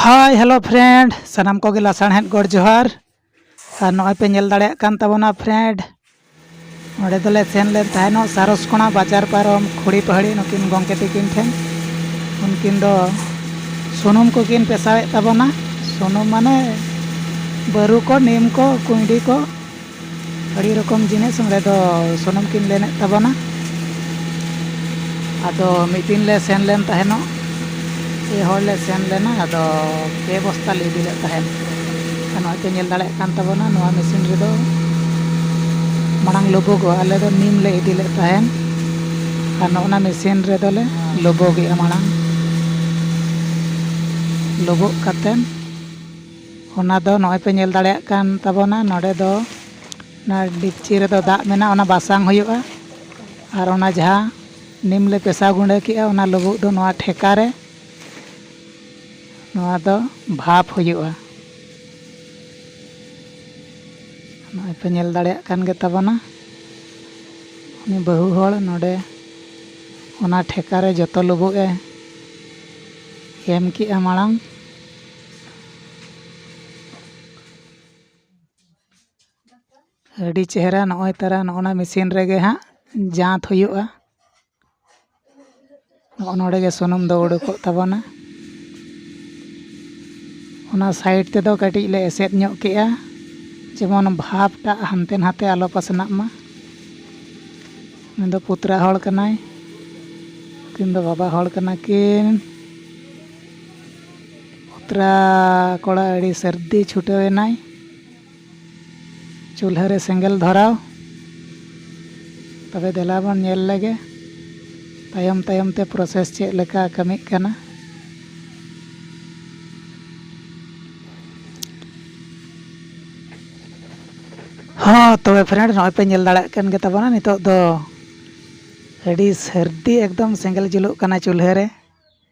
ᱦᱟᱭ hello friend ᱥᱟᱱᱟᱢ ᱠᱚᱜᱮ ᱞᱟᱥᱟᱬᱦᱮᱫ ᱜᱚᱰ ᱡᱚᱦᱟᱨ ᱟᱨ ᱱᱚᱜᱼᱚᱭ ᱯᱮ ᱧᱮᱞ ᱫᱟᱲᱮᱭᱟᱜ ᱠᱟᱱ ᱛᱟᱵᱚᱱᱟ ᱯᱷᱨᱮᱱᱰ ᱚᱸᱰᱮ ᱫᱚᱞᱮ ᱥᱮᱱ ᱞᱮᱱ ᱛᱟᱦᱮᱱᱚᱜ ᱥᱟᱨᱚᱥᱠᱚᱬᱟ ᱵᱟᱡᱟᱨ ᱯᱟᱨᱚᱢ ᱠᱷᱩᱲᱤ ᱯᱟᱹᱦᱲᱤ ᱱᱩᱠᱤᱱ ᱜᱚᱢᱠᱮ ᱛᱤᱠᱤᱱ ᱴᱷᱮᱱ ᱩᱱᱠᱤᱱ ᱫᱚ ᱥᱩᱱᱩᱢ ᱠᱚᱠᱤᱱ ᱯᱮᱥᱟᱣᱮᱫ ᱛᱟᱵᱚᱱᱟ ᱥᱩᱱᱩᱢ ᱢᱟᱱᱮ ᱵᱟᱹᱨᱩ ᱠᱚ ᱱᱤᱢ ᱠᱚ ᱠᱩᱸᱭᱰᱤ ᱠᱚ ᱟᱹᱰᱤ ᱨᱚᱠᱚᱢ ᱡᱤᱱᱤᱥ ᱚᱸᱰᱮ ᱫᱚ ᱥᱩᱱᱩᱢ ᱠᱤᱱ ᱞᱮᱱᱮᱫ ᱛᱟᱵᱚᱱᱟ ᱟᱫᱚ ᱢᱤᱫ ᱫᱤᱱ ᱞᱮ ᱥᱮᱱ ᱞᱮᱱ ᱛᱟᱦᱮᱱᱚᱜ ᱯᱮ ᱦᱚᱲ ᱞᱮ ᱥᱮᱱ ᱞᱮᱱᱟ ᱟᱫᱚ ᱯᱮ ᱵᱚᱥᱛᱟ ᱞᱮ ᱤᱫᱤ ᱞᱮᱫ ᱛᱟᱦᱮᱸᱫ ᱟᱨ ᱱᱚᱜᱼᱚᱭ ᱯᱮ ᱧᱮᱞ ᱫᱟᱲᱮᱭᱟᱜ ᱠᱟᱱ ᱛᱟᱵᱚᱱᱟ ᱱᱚᱣᱟ ᱢᱮᱥᱤᱱ ᱨᱮᱫᱚ ᱢᱟᱲᱟᱝ ᱞᱩᱵᱩᱜᱚᱜᱼᱟ ᱟᱞᱮ ᱫᱚ ᱱᱤᱢ ᱞᱮ ᱤᱫᱤ ᱞᱮᱫ ᱛᱟᱦᱮᱸᱫ ᱟᱨ ᱱᱚᱜᱼᱚᱱᱟ ᱢᱮᱥᱤᱱ ᱨᱮᱫᱚ ᱞᱮ ᱞᱩᱵᱩᱜᱮᱜᱼᱟ ᱢᱟᱲᱟᱝ ᱞᱩᱵᱩᱜ ᱠᱟᱛᱮᱫ ᱚᱱᱟ ᱫᱚ ᱱᱚᱜᱼᱚᱭ ᱯᱮ ᱧᱮᱞ ᱫᱟᱲᱮᱭᱟᱜ ᱠᱟᱱ ᱛᱟᱵᱚᱱᱟ ᱱᱚᱰᱮ ᱫᱚ ᱚᱱᱟ ᱰᱮᱠᱪᱤ ᱨᱮᱫᱚ ᱫᱟᱜ ᱢᱮᱱᱟᱜᱼᱟ ᱚᱱᱟ ᱵᱟᱥᱟᱝ ᱦᱩᱭᱩᱜᱼᱟ ᱟᱨ ᱚᱱᱟ ᱡᱟᱦᱟᱸ ᱱᱤᱢ ᱞᱮ ᱯᱮᱥᱟᱣ ᱜᱩᱰᱟᱹ ᱠᱮᱜᱼᱟ ᱚᱱᱟ ᱞᱩᱵᱩᱜ ᱫᱚ ᱱᱚᱣᱟ ᱴᱷᱮᱠᱟ ᱨᱮ ᱱᱚᱣᱟ ᱫᱚ ᱵᱷᱟᱯ ᱦᱩᱭᱩᱜᱼᱟ ᱱᱚᱜᱼᱚᱭ ᱯᱮ ᱧᱮᱞ ᱫᱟᱲᱮᱭᱟᱜ ᱠᱟᱱ ᱜᱮ ᱛᱟᱵᱚᱱᱟ ᱩᱱᱤ ᱵᱟᱹᱦᱩ ᱦᱚᱲ ᱱᱚᱰᱮ ᱚᱱᱟ ᱴᱷᱮᱠᱟ ᱨᱮ ᱡᱚᱛᱚ ᱞᱩᱵᱩᱜ ᱮ ᱮᱢ ᱠᱮᱜᱼᱟ ᱢᱟᱲᱟᱝ ᱟᱹᱰᱤ ᱪᱮᱦᱨᱟ ᱱᱚᱜᱼᱚᱭ ᱛᱚᱨᱟ ᱱᱚᱜᱼᱚᱱᱟ ᱢᱮᱹᱥᱤᱱ ᱨᱮᱜᱮ ᱦᱟᱸᱜ ᱡᱟᱸᱛ ᱦᱩᱭᱩᱜᱼᱟ ᱱᱚᱜᱼᱚ ᱱᱚᱰᱮ ᱜᱮ ᱥᱩᱱᱩᱢ ᱫᱚ ᱩᱰᱩᱠᱚᱜ ᱛᱟᱵᱚᱱᱟ ᱚᱱᱟ ᱥᱟᱭᱤᱰ ᱛᱮᱫᱚ ᱠᱟᱹᱴᱤᱡ ᱞᱮ ᱮᱥᱮᱫ ᱧᱚᱜ ᱠᱮᱜᱼᱟ ᱡᱮᱢᱚᱱ ᱵᱷᱟᱵᱽ ᱴᱟᱜ ᱦᱟᱱᱛᱮ ᱱᱟᱛᱮ ᱟᱞᱚ ᱯᱟᱥᱱᱟᱜ ᱢᱟ ᱩᱱᱤ ᱫᱚ ᱯᱩᱛᱨᱟ ᱦᱚᱲ ᱠᱟᱱᱟᱭ ᱩᱱᱠᱤᱱ ᱫᱚ ᱵᱟᱵᱟ ᱦᱚᱲ ᱠᱟᱱᱟ ᱠᱤᱱ ᱚᱛᱨᱟ ᱠᱚᱲᱟ ᱟᱹᱰᱤ ᱥᱟᱹᱨᱫᱤ ᱪᱷᱩᱴᱟᱹᱣ ᱮᱱᱟᱭ ᱪᱩᱞᱦᱟᱹ ᱨᱮ ᱥᱮᱸᱜᱮᱞ ᱫᱷᱚᱨᱟᱣ ᱛᱚᱵᱮ ᱫᱮᱞᱟ ᱵᱚᱱ ᱧᱮᱞ ᱞᱮᱜᱮ ᱛᱟᱭᱚᱢ ᱛᱟᱭᱚᱢ ᱛᱮ ᱯᱨᱚᱥᱮᱥ ᱪᱮᱫ ᱞᱮᱠᱟ ᱠᱟᱹᱢᱤᱜ ᱠᱟᱱᱟ ᱦᱚᱸ ᱛᱚᱵᱮ ᱯᱷᱨᱮᱱᱰ ᱱᱚᱜᱼᱚᱭ ᱯᱮ ᱧᱮᱞ ᱫᱟᱲᱮᱭᱟᱜ ᱠᱟᱱ ᱜᱮᱛᱟ ᱵᱚᱱᱟ ᱱᱤᱛᱚᱜ ᱫᱚ ᱟᱹᱰᱤ ᱥᱟᱹᱨᱫᱤ ᱮᱠᱫᱚᱢ ᱥᱮᱸᱜᱮᱞ ᱡᱩᱞᱩᱜ ᱠᱟᱱᱟ ᱪᱩᱞᱦᱟᱹ ᱨᱮ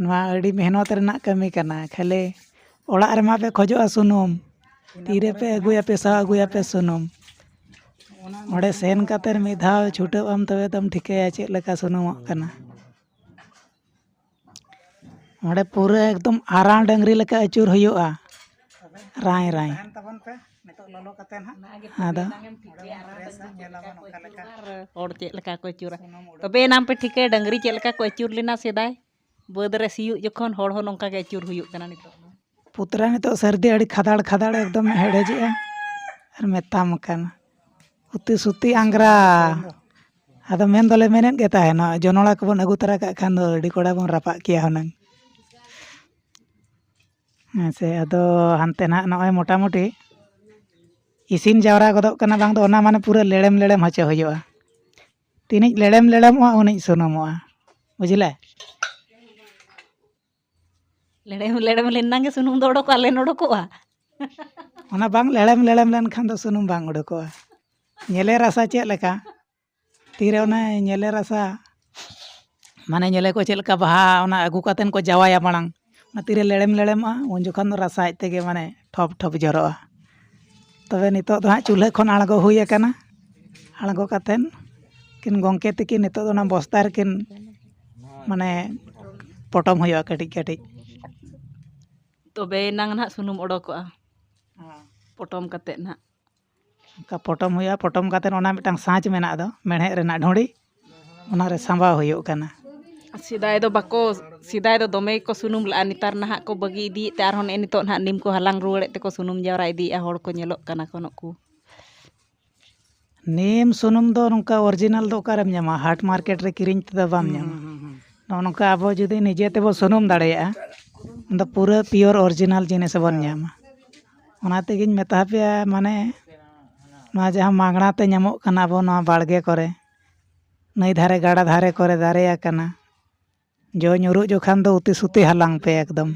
ᱱᱚᱣᱟ ᱟᱹᱰᱤ ᱢᱮᱦᱱᱚᱛ ᱨᱮᱱᱟᱜ ᱠᱟᱹᱢᱤ ᱠᱟᱱᱟ ᱠᱷᱟᱹᱞᱤ ᱚᱲᱟᱜ ᱨᱮᱢᱟ ᱯᱮ ᱠᱷᱚᱡᱚᱜᱼᱟ ᱥᱩᱱᱩᱢ ᱛᱤᱨᱮᱯᱮ ᱟᱹᱜᱩᱭᱟ ᱯᱮᱥᱟ ᱟᱹᱜᱩᱭᱟᱯᱮ ᱥᱩᱱᱩᱢ ᱚᱸᱰᱮ ᱥᱮᱱ ᱠᱟᱛᱮᱫ ᱢᱤᱫ ᱫᱷᱟᱣ ᱪᱷᱩᱴᱟᱹᱜ ᱟᱢ ᱛᱚᱵᱮ ᱛᱚᱢ ᱴᱷᱤᱠᱟᱹᱭᱟ ᱪᱮᱫ ᱞᱮᱠᱟ ᱥᱩᱱᱩᱢᱚᱜ ᱠᱟᱱᱟ ᱚᱸᱰᱮ ᱯᱩᱨᱟᱹ ᱮᱠᱫᱚᱢ ᱟᱨᱟᱝ ᱰᱟᱹᱝᱨᱤ ᱞᱮᱠᱟ ᱟᱹᱪᱩᱨ ᱦᱩᱭᱩᱜᱼᱟ ᱨᱟᱭ ᱨᱟᱭ ᱟᱫᱚ ᱦᱚᱲ ᱪᱮᱫ ᱞᱮᱠᱟ ᱠᱚ ᱟᱹᱪᱩᱨᱟ ᱛᱚᱵᱮ ᱮᱱᱟᱝ ᱯᱮ ᱴᱷᱤᱠᱟᱹᱭᱟ ᱰᱟᱹᱝᱨᱤ ᱪᱮᱫ ᱞᱮᱠᱟ ᱠᱚ ᱟᱹᱪᱩᱨ ᱞᱮᱱᱟ ᱥᱮᱫᱟᱭ ᱵᱟᱹᱫᱽ ᱨᱮ ᱥᱤᱭᱳᱜ ᱡᱚᱠᱷᱚᱱ ᱦᱚᱲ ᱦᱚᱸ ᱱᱚᱝᱠᱟ ᱜᱮ ᱟᱹᱪᱩᱨ ᱦᱩᱭᱩᱜ ᱠᱟᱱᱟ ᱱᱤᱛᱚᱜ ᱫᱚ ᱯᱩᱛᱲᱟ ᱱᱤᱛᱚᱜ ᱥᱟᱹᱨᱫᱤ ᱟᱹᱰᱤ ᱠᱷᱟᱫᱟᱲ ᱠᱷᱟᱫᱟᱲ ᱮᱠᱫᱚᱢ ᱦᱮᱰᱮᱡᱮᱜᱼᱟ ᱟᱨ ᱢᱮᱛᱟᱢ ᱠᱟᱱᱟ ᱩᱛᱤ ᱥᱩᱛᱤ ᱟᱝᱜᱽᱨᱟ ᱟᱫᱚ ᱢᱮᱱ ᱫᱚᱞᱮ ᱢᱮᱱᱮᱫ ᱜᱮ ᱛᱟᱦᱮᱱᱟ ᱡᱚᱱᱚᱲᱟ ᱠᱚᱵᱚᱱ ᱟᱹᱜᱩ ᱛᱟᱨᱟ ᱠᱟᱜ ᱠᱷᱟᱱ ᱫᱚ ᱟᱹᱰᱤ ᱠᱚᱲᱟ ᱵᱚᱱ ᱨᱟᱯᱟᱜ ᱠᱮᱭᱟ ᱦᱩᱱᱟᱹᱝ ᱦᱮᱸ ᱥᱮ ᱟᱫᱚ ᱦᱟᱱᱛᱮ ᱱᱟᱜ ᱱᱚᱜᱼᱚᱭ ᱢᱚᱴᱟᱢᱩᱴᱤ ᱤᱥᱤᱱ ᱡᱟᱣᱨᱟ ᱜᱚᱫᱚᱜ ᱠᱟᱱᱟ ᱵᱟᱝ ᱫᱚ ᱚᱱᱟ ᱢᱟᱱᱮ ᱯᱩᱨᱟᱹ ᱞᱮᱲᱮᱢ ᱞᱮᱲᱮᱢ ᱦᱚᱪᱚ ᱦᱩᱭᱩᱜᱼᱟ ᱛᱤᱱᱤᱡ ᱞᱮᱲᱮᱢ ᱞᱮᱲᱮᱢᱚᱜᱼᱟ ᱩᱱᱤᱡ ᱥᱩᱱᱩᱢᱚᱜᱼᱟ ᱵᱩᱡᱽᱞᱮ ᱞᱮᱲᱮᱢ ᱞᱮᱲᱮᱢ ᱞᱮᱱᱟᱝ ᱜᱮ ᱥᱩᱱᱩᱢ ᱫᱚ ᱚᱰᱚᱠᱚᱜᱼᱟ ᱞᱮᱱ ᱚᱰᱚᱠᱚᱜᱼᱟ ᱚᱱᱟ ᱵᱟᱝ ᱞᱮᱲᱮᱢ ᱞᱮᱲᱮᱢ ᱞᱮᱱᱠᱷᱟᱱ ᱫᱚ ᱥᱩᱱᱩᱢ ᱵᱟᱝ ᱩᱰᱩᱠᱚᱜᱼᱟ ᱧᱮᱞᱮ ᱨᱟᱥᱟ ᱪᱮᱫ ᱞᱮᱠᱟ ᱛᱤᱨᱮ ᱚᱱᱮ ᱧᱮᱞᱮ ᱨᱟᱥᱟ ᱢᱟᱱᱮ ᱧᱮᱞᱮ ᱠᱚ ᱪᱮᱫ ᱞᱮᱠᱟ ᱵᱟᱦᱟ ᱚᱱᱟ ᱟᱹᱜᱩ ᱠᱟᱛᱮᱫ ᱠᱚ ᱡᱟᱶᱟᱭᱟ ᱢᱟᱲᱟᱝ ᱚᱱᱟ ᱛᱤᱨᱮ ᱞᱮᱲᱮᱢ ᱞᱮᱲᱮᱢᱚᱜᱼᱟ ᱩᱱ ᱡᱚᱠᱷᱚᱱ ᱫᱚ ᱨᱟᱥᱟ ᱟᱡ ᱛᱮᱜᱮ ᱢᱟᱱᱮ ᱴᱷᱚᱯ ᱴᱷᱚᱯ ᱡᱚᱨᱚᱜᱼᱟ ᱛᱚᱵᱮ ᱱᱤᱛᱳᱜ ᱫᱚ ᱦᱟᱸᱜ ᱪᱩᱞᱦᱟᱹ ᱠᱷᱚᱱ ᱟᱬᱜᱚ ᱦᱩᱭ ᱟᱠᱟᱱᱟ ᱟᱬᱜᱚ ᱠᱟᱛᱮᱫ ᱩᱱᱠᱤᱱ ᱜᱚᱢᱠᱮ ᱛᱟᱹᱠᱤᱱ ᱱᱤᱛᱳᱜ ᱫᱚ ᱚᱱᱟ ᱵᱚᱥᱛᱟ ᱨᱮᱠᱤᱱ ᱢᱟᱱᱮ ᱯᱚᱴᱚᱢ ᱦᱩᱭᱩᱜᱼᱟ ᱠᱟᱹᱴᱤᱡ ᱠᱟᱹᱴᱤᱡ ᱛᱚᱵᱮᱭᱮᱱᱟᱝ ᱦᱟᱸᱜ ᱥᱩᱱᱩᱢ ᱚᱰᱚᱠᱚᱜᱼᱟ ᱯᱚᱴᱚᱢ ᱠᱟᱛᱮᱫ ᱦᱟᱸᱜ ᱚᱱᱠᱟ ᱯᱚᱴᱚᱢ ᱦᱩᱭᱩᱜᱼᱟ ᱯᱚᱴᱚᱢ ᱠᱟᱛᱮᱫ ᱚᱱᱟ ᱢᱤᱫᱴᱟᱝ ᱥᱟᱡᱽ ᱢᱮᱱᱟᱜ ᱫᱚ ᱢᱮᱬᱦᱮᱫ ᱨᱮᱱᱟᱜ ᱰᱷᱩᱲᱤ ᱚᱱᱟᱨᱮ ᱥᱟᱢᱵᱟᱣ ᱦᱩᱭᱩᱜ ᱠᱟᱱᱟ ᱥᱮᱫᱟᱭ ᱫᱚ ᱵᱟᱠᱚ ᱥᱮᱫᱟᱭ ᱫᱚ ᱫᱚᱢᱮ ᱜᱮᱠᱚ ᱥᱩᱱᱩᱢ ᱞᱟᱜᱼᱟ ᱱᱮᱛᱟᱨ ᱱᱟᱦᱟᱜ ᱠᱚ ᱵᱟᱹᱜᱤ ᱤᱫᱤᱭᱮᱫ ᱛᱮ ᱟᱨᱦᱚᱸ ᱱᱮᱜᱼᱮ ᱱᱤᱛᱚᱜ ᱱᱟᱦᱟᱜ ᱱᱤᱢ ᱠᱚ ᱦᱟᱞᱟᱝ ᱨᱩᱣᱟᱹᱲᱮᱫ ᱛᱮᱠᱚ ᱥᱩᱱᱩᱢ ᱡᱟᱣᱨᱟ ᱤᱫᱤᱭᱮᱜᱼᱟ ᱦᱚᱲ ᱠᱚ ᱧᱮᱞᱚᱜ ᱠᱟᱱᱟ ᱠᱚ ᱱᱩᱠᱩ ᱱᱤᱢ ᱥᱩᱱᱩᱢ ᱫᱚ ᱱᱚᱝᱠᱟ ᱚᱨᱤᱡᱤᱱᱟᱞ ᱫᱚ ᱚᱠᱟᱨᱮᱢ ᱧᱟᱢᱟ ᱦᱟᱴ ᱢᱟᱨᱠᱮᱴ ᱨᱮ ᱠᱤᱨᱤᱧ ᱛᱮᱫᱚ ᱵᱟᱢ ᱧᱟᱢᱟ ᱱᱚᱜᱼᱚ ᱱᱚᱝᱠᱟ ᱟᱵᱚ ᱡᱩᱫᱤ ᱱᱤᱡᱮ ᱛᱮᱵᱚᱱ ᱥᱩᱱᱩᱢ ᱫᱟᱲᱮᱭᱟᱜᱼᱟ ᱚᱱᱟᱫᱚ ᱯᱩᱨᱟᱹ ᱯᱤᱭᱳᱨ ᱚᱨᱤᱡᱤᱱᱟᱞ ᱡᱤᱱᱤᱥ ᱵᱚᱱ ᱧᱟᱢᱟ ᱚᱱᱟ ᱛᱮᱜᱤᱧ ᱢᱮᱛᱟ ᱯᱮᱭᱟ ᱢᱟᱱᱮ ᱱᱚᱣᱟ ᱡᱟᱦᱟᱸ ᱢᱟᱜᱽᱱᱟ ᱛᱮ ᱧᱟᱢᱚᱜ ᱠᱟᱱᱟ ᱟᱵᱚ ᱱᱚᱣᱟ ᱵᱟᱲᱜᱮ ᱠᱚᱨᱮ ᱱᱟᱹᱭ ᱫᱷᱟᱨᱮ ᱜᱟᱰᱟ ᱫᱷᱟᱨᱮ ᱠᱚᱨᱮ ᱫᱟᱨᱮ ᱟᱠᱟᱱᱟ ᱡᱚ ᱧᱩᱨᱩᱜ ᱡᱚᱠᱷᱟᱱ ᱫᱚ ᱩᱛᱤ ᱥᱩᱛᱤ ᱦᱟᱞᱟᱝ ᱯᱮ ᱮᱠᱫᱚᱢ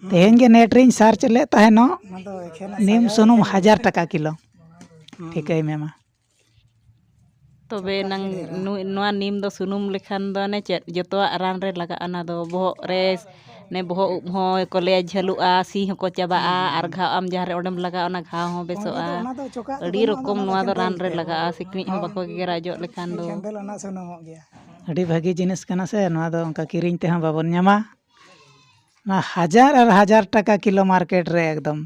ᱛᱮᱦᱮᱧ ᱜᱮ ᱱᱮᱹᱴ ᱨᱤᱧ ᱥᱟᱨᱪ ᱞᱮᱫ ᱛᱟᱦᱮᱱᱚᱜ ᱱᱤᱢ ᱥᱩᱱᱩᱢ ᱦᱟᱡᱟᱨ ᱴᱟᱠᱟ ᱠᱤᱞᱳ ᱴᱷᱤᱠᱟᱹᱭ ᱢᱮ ᱢᱟ ᱛᱚᱵᱮ ᱮᱱᱟᱝ ᱱᱚᱣᱟ ᱱᱤᱢ ᱫᱚ ᱥᱩᱱᱩᱢ ᱞᱮᱠᱷᱟᱱ ᱫᱚ ᱚᱱᱮ ᱪᱮᱫ ᱡᱚᱛᱚᱣᱟᱜ ᱨᱟᱱ ᱨᱮ ᱞᱟᱜᱟᱜᱼᱟ ᱚᱱᱟ ᱫᱚ ᱵᱚᱦᱚᱜ ᱨᱮ ᱚᱱᱮ ᱵᱚᱦᱚᱜ ᱩᱵ ᱦᱚᱸ ᱠᱚ ᱞᱟᱹᱭᱟ ᱡᱷᱟᱹᱞᱩᱜᱼᱟ ᱥᱤ ᱦᱚᱸᱠᱚ ᱪᱟᱵᱟᱜᱼᱟ ᱟᱨ ᱜᱷᱟᱣ ᱟᱢ ᱡᱟᱦᱟᱸ ᱨᱮ ᱚᱸᱰᱮᱢ ᱞᱟᱜᱟᱣᱟ ᱚᱱᱟ ᱜᱷᱟᱣ ᱦᱚᱸ ᱵᱮᱥᱚᱜᱼᱟ ᱟᱹᱰᱤ ᱨᱚᱠᱚᱢ ᱱᱚᱣᱟ ᱫᱚ ᱨᱟᱱ ᱨᱮ ᱞᱟᱜᱟᱜᱼᱟ ᱥᱤᱠᱬᱤᱡ ᱦᱚᱸ ᱵᱟᱠᱚ ᱜᱮᱜᱮᱨᱟ ᱚᱡᱚᱜ ᱞᱮᱠᱷᱟᱱ ᱫᱚ ᱟᱹᱰᱤ ᱵᱷᱟᱹᱜᱤ ᱡᱤᱱᱤᱥ ᱠᱟᱱᱟ ᱥᱮ ᱱᱚᱣᱟ ᱫᱚ ᱚᱱᱠᱟ ᱠᱤᱨᱤᱧ ᱛᱮᱦᱚᱸ ᱵᱟᱵᱚᱱ ᱧᱟᱢᱟ ᱚᱱᱟ ᱦᱟᱡᱟᱨ ᱟᱨ ᱦᱟᱡᱟᱨ ᱴᱟᱠᱟ ᱠᱤᱞᱳ ᱢᱟᱨᱠᱮᱴ ᱨᱮ ᱮᱠᱫᱚᱢ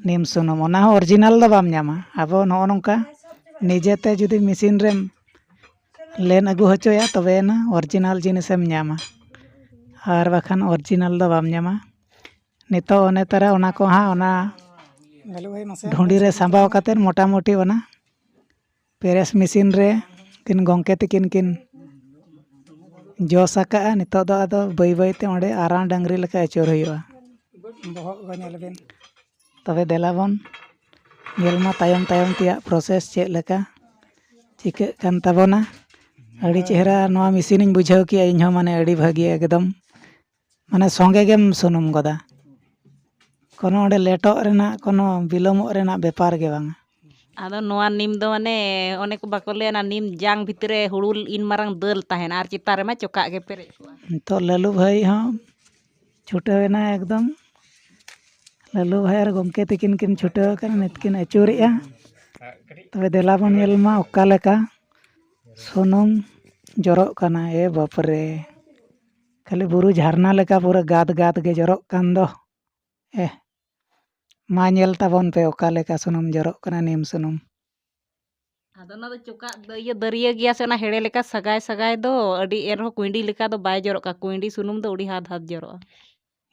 ᱱᱤᱢ ᱥᱩᱱᱩᱢ ᱚᱱᱟ ᱦᱚᱸ ᱚᱨᱤᱡᱤᱱᱟᱞ ᱫᱚ ᱵᱟᱢ ᱧᱟᱢᱟ ᱟᱵᱚ ᱱᱚᱜᱼᱚ ᱱᱚᱝᱠᱟ ᱱᱤᱡᱮ ᱛᱮ ᱡᱩᱫᱤ ᱢᱮᱥᱤᱱ ᱨᱮᱢ ᱞᱮᱱ ᱟᱹᱜᱩ ᱦᱚᱪᱚᱭᱟ ᱛᱚᱵᱮ ᱟᱱᱟᱜ ᱚᱨᱤᱡᱤᱱᱟᱞ ᱡᱤᱱᱤᱥ ᱮᱢ ᱧᱟᱢᱟ ᱟᱨ ᱵᱟᱠᱷᱟᱱ ᱚᱨᱤᱡᱤᱱᱟᱞ ᱫᱚ ᱵᱟᱢ ᱧᱟᱢᱟ ᱱᱤᱛᱚᱜ ᱚᱱᱮ ᱛᱟᱨᱟ ᱚᱱᱟ ᱠᱚᱦᱚᱸ ᱚᱱᱟ ᱫᱷᱩᱲᱤ ᱨᱮ ᱥᱟᱢᱵᱟᱣ ᱠᱟᱛᱮᱫ ᱢᱳᱴᱟᱢᱩᱴᱤ ᱚᱱᱟ ᱯᱮᱨᱮᱥ ᱢᱮᱥᱤᱱ ᱨᱮ ᱩᱱᱠᱤᱱ ᱜᱚᱢᱠᱮ ᱛᱟᱹᱠᱤᱱ ᱠᱤᱱ ᱡᱚᱥ ᱟᱠᱟᱫᱼᱟ ᱱᱤᱛᱳᱜ ᱫᱚ ᱟᱫᱚ ᱵᱟᱹᱭ ᱵᱟᱹᱭ ᱛᱮ ᱚᱸᱰᱮ ᱟᱨᱟᱬ ᱰᱟᱹᱝᱨᱤ ᱞᱮᱠᱟ ᱟᱹᱪᱩᱨ ᱦᱩᱭᱩᱜᱼᱟ ᱵᱚᱦᱚᱜ ᱜᱚ ᱧᱮᱞ ᱵᱤᱱ ᱛᱚᱵᱮ ᱫᱮᱞᱟ ᱵᱚᱱ ᱧᱮᱞ ᱢᱟ ᱛᱟᱭᱚᱢ ᱛᱟᱭᱚᱢ ᱛᱮᱭᱟᱜ ᱯᱨᱚᱥᱮᱥ ᱪᱮᱫ ᱞᱮᱠᱟ ᱪᱤᱠᱟᱹᱜ ᱠᱟᱱ ᱛᱟᱵᱚᱱᱟ ᱟᱹᱰᱤ ᱪᱮᱦᱨᱟ ᱱᱚᱣᱟ ᱢᱮᱥᱤᱱᱤᱧ ᱵᱩᱡᱷᱟᱹᱣ ᱠᱮᱜᱼᱟ ᱤᱧ ᱦᱚᱸ ᱢᱟᱱᱮ ᱟᱹᱰᱤ ᱵᱷᱟᱹᱜᱤ ᱮᱠᱫᱚᱢ ᱢᱟᱱᱮ ᱥᱚᱸᱜᱮ ᱜᱮᱢ ᱥᱩᱱᱩᱢ ᱜᱚᱫᱟ ᱠᱳᱱᱳ ᱚᱸᱰᱮ ᱞᱮᱴᱚᱜ ᱨᱮᱱᱟᱜ ᱠᱳᱱᱳ ᱵᱤᱞᱚᱢᱚᱜ ᱨᱮᱱᱟᱜ ᱵᱮᱯᱟᱨ ᱜᱮ ᱵᱟᱝᱟ ᱟᱫᱚ ᱱᱚᱣᱟ ᱱᱤᱢ ᱫᱚ ᱢᱟᱱᱮ ᱚᱱᱮ ᱠᱚ ᱵᱟᱠᱚ ᱞᱟᱹᱭᱟ ᱚᱱᱟ ᱱᱤᱢ ᱡᱟᱝ ᱵᱷᱤᱛᱨᱤ ᱨᱮ ᱦᱩᱲᱩ ᱤᱱ ᱢᱟᱨᱟᱝ ᱫᱟᱹᱞ ᱛᱟᱦᱮᱱᱟ ᱟᱨ ᱪᱮᱛᱟᱱ ᱨᱮᱢᱟ ᱪᱚᱠᱟᱜ ᱜᱮ ᱯᱮᱨᱮᱡ ᱠᱚᱜᱼᱟ ᱱᱤᱛᱚᱜ ᱞᱟᱹᱞᱩ ᱵᱷᱟᱹᱭ ᱦᱚᱸ ᱪᱷᱩᱴᱟᱹᱣ ᱮᱱᱟᱭ ᱮᱠᱫᱚᱢ ᱞᱟᱹᱞᱩ ᱵᱷᱟᱹᱭ ᱟᱨ ᱜᱚᱢᱠᱮ ᱛᱟᱹᱠᱤᱱ ᱠᱤᱱ ᱪᱷᱩᱴᱟᱹᱣ ᱟᱠᱟᱱᱟ ᱱᱤᱛ ᱠᱤᱱ ᱟᱹᱪᱩᱨᱮᱜᱼᱟ ᱛᱚᱵᱮ ᱫᱮᱞᱟ ᱵᱚᱱ ᱧᱮᱞ ᱢᱟ ᱚᱠᱟ ᱞᱮᱠᱟ ᱥᱩᱱᱩᱢ ᱡᱚᱨᱚᱜ ᱠᱟᱱᱟ ᱮ ᱵᱟᱯᱨᱮ ᱠᱷᱟᱹᱞᱤ ᱵᱩᱨᱩ ᱡᱷᱟᱨᱱᱟ ᱞᱮᱠᱟ ᱯᱩᱨᱟᱹ ᱜᱟᱫᱽ ᱜᱟᱫᱽ ᱜᱮ ᱡᱚᱨᱚᱜ ᱠᱟᱱ ᱫᱚ ᱮᱦ ᱢᱟ ᱧᱮᱞ ᱛᱟᱵᱚᱱ ᱯᱮ ᱚᱠᱟ ᱞᱮᱠᱟ ᱥᱩᱱᱩᱢ ᱡᱚᱨᱚᱜ ᱠᱟᱱᱟ ᱱᱤᱢ ᱥᱩᱱᱩᱢ ᱟᱫᱚ ᱚᱱᱟ ᱫᱚ ᱪᱚᱠᱟᱜ ᱤᱭᱟᱹ ᱫᱟᱹᱨᱭᱟᱹ ᱜᱮᱭᱟ ᱥᱮ ᱚᱱᱟ ᱦᱮᱲᱮ ᱞᱮᱠᱟ ᱥᱟᱜᱟᱭ ᱥᱟᱜᱟᱭ ᱫᱚ ᱟᱹᱰᱤ ᱮᱱᱨᱮᱦᱚᱸ ᱠᱩᱸᱭᱰᱤ ᱞᱮᱠᱟ ᱫᱚ ᱵᱟᱭ ᱡᱚᱨᱚᱜ ᱠᱟᱱᱟ ᱠᱩᱸᱭᱰᱤ ᱥᱩᱱᱩᱢ ᱫᱚ ᱟᱹᱰᱤ ᱦᱟᱫᱽ ᱦᱟᱫᱽ ᱡᱚᱨᱚᱜᱼᱟ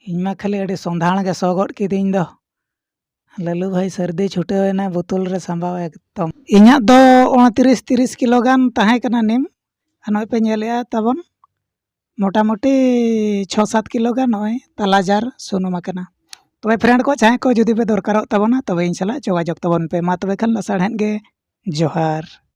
ᱤᱧ ᱢᱟ ᱠᱷᱟᱹᱞᱤ ᱟᱹᱰᱤ ᱥᱚᱸᱫᱷᱟᱲ ᱜᱮ ᱥᱚ ᱜᱚᱫ ᱠᱤᱫᱤᱧ ᱫᱚ ᱞᱟᱹᱞᱩ ᱵᱷᱟᱭ ᱥᱟᱹᱨᱫᱤ ᱪᱷᱩᱴᱟᱹᱣ ᱮᱱᱟᱭ ᱵᱳᱛᱚᱞ ᱨᱮ ᱥᱟᱢᱵᱟᱣ ᱮᱠᱫᱚᱢ ᱤᱧᱟᱹᱜ ᱫᱚ ᱩᱱᱛᱨᱤᱥ ᱛᱤᱨᱤᱥ ᱠᱤᱞᱳ ᱜᱟᱱ ᱛᱟᱦᱮᱸ ᱠᱟᱱᱟ ᱱᱤᱢ ᱟᱨ ᱱᱚᱜᱼᱚᱭ ᱯᱮ ᱧᱮᱞᱮᱜᱼᱟ ᱛᱟᱵᱚᱱ ᱢᱳᱴᱟᱢᱩᱴᱤ ᱪᱷᱚ ᱥᱟᱛ ᱠᱤᱞᱳ ᱜᱟᱱ ᱱᱚᱜᱼᱚᱭ ᱛᱟᱞᱟ ᱡᱟᱨ ᱥᱩᱱᱩᱢ ᱟᱠᱟᱱᱟ ᱛᱚᱵᱮ ᱯᱷᱨᱮᱱᱰ ᱠᱚ ᱡᱟᱦᱟᱸᱭ ᱠᱚ ᱡᱩᱫᱤ ᱯᱮ ᱫᱚᱨᱠᱟᱨᱚᱜ ᱛᱟᱵᱚᱱᱟ ᱛᱚᱵᱮ ᱤᱧ ᱥᱟᱞᱟᱜ ᱡᱳᱜᱟᱡᱳᱜᱽ ᱛᱟᱵᱚᱱ ᱯᱮ ᱢᱟ ᱛᱚᱵᱮ ᱠᱷᱟᱱ ᱞᱟᱥᱟᱲᱦᱮᱫ ᱜᱮ ᱡᱚᱦᱟᱨ